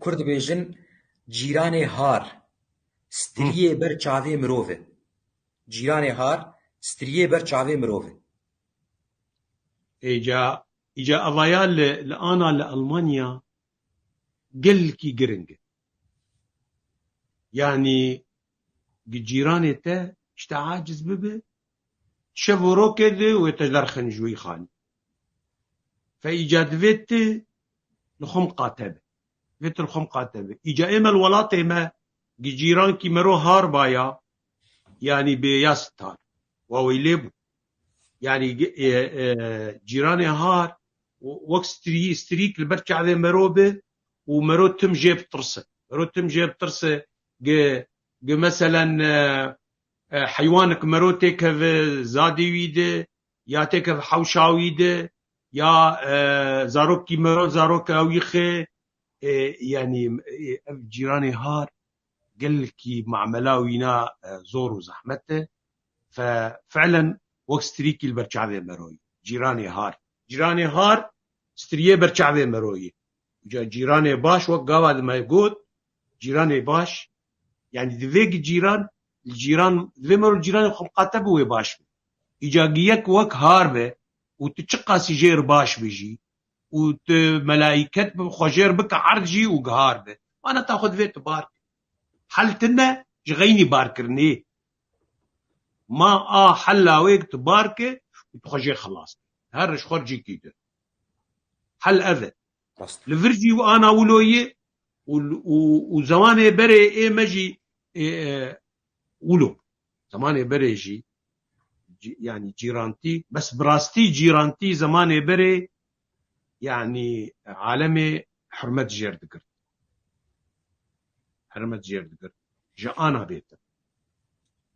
Kurd dibêjin cîranê har, striyê ber çavê mirov e. Cîranê har, striyê ber çavê mirov e. Îca, îca evaya li li ana li Elmanya gelkî giring e. Yanî gi cîranê te ji te aciz bibe, tu şev û rok e di wê te derxin ji wî xanî. Fe îca divê tu li xwe miqate be. Divê tu li xwe miqate be. Îca ême li welatê me gi cîrankî miro har baya yanî bê ya sitar. Waweylê bû. Yanî cîranê har wek strî strîk li ber çavê miro bi û miro tim jê bitirse. Miro tim jê bitirse gi gi meselen heywanik miro têkeve zadê wî di ya têk ev hewşa wî di ya zarokî miro zarok ew yî xê yanî ev cîranê har gelkî mamela wîna zor û zehmet e fe felen wek strîkî li ber çavê miro yî cîranê har cîranê har striyê ber çavê miro yî ca cîranê baş wek gava di me got cîranê baş Yanî divê ki cîran li cîran divê mirov cîranê xwe biqate bi wê baş be. Îca giyek wek har be û tu çiqasî jê re baş be jî û tu melaîket bi xwe jê re bike erd jî û gihar be. Maneta xwe divê tu bar kî. Hel tu ne ji xeynî barkirinê ye. Ma a hel lawê ki tu bar ki û tu xwe jê xilas bikî. Her roj xwe cî kî dir. Hel ev e. Li vir jî û ana wilo yê û zemanê berê ê me jî wilo bû. Zemanê berê jî yanî cîrantî bes bi rastî cîrantî zemanê berê yanî alemê hurmet jêr digirt. Hurmet jêr digirt ji ana bêtin.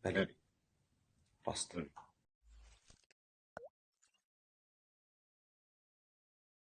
Belê. Rast e.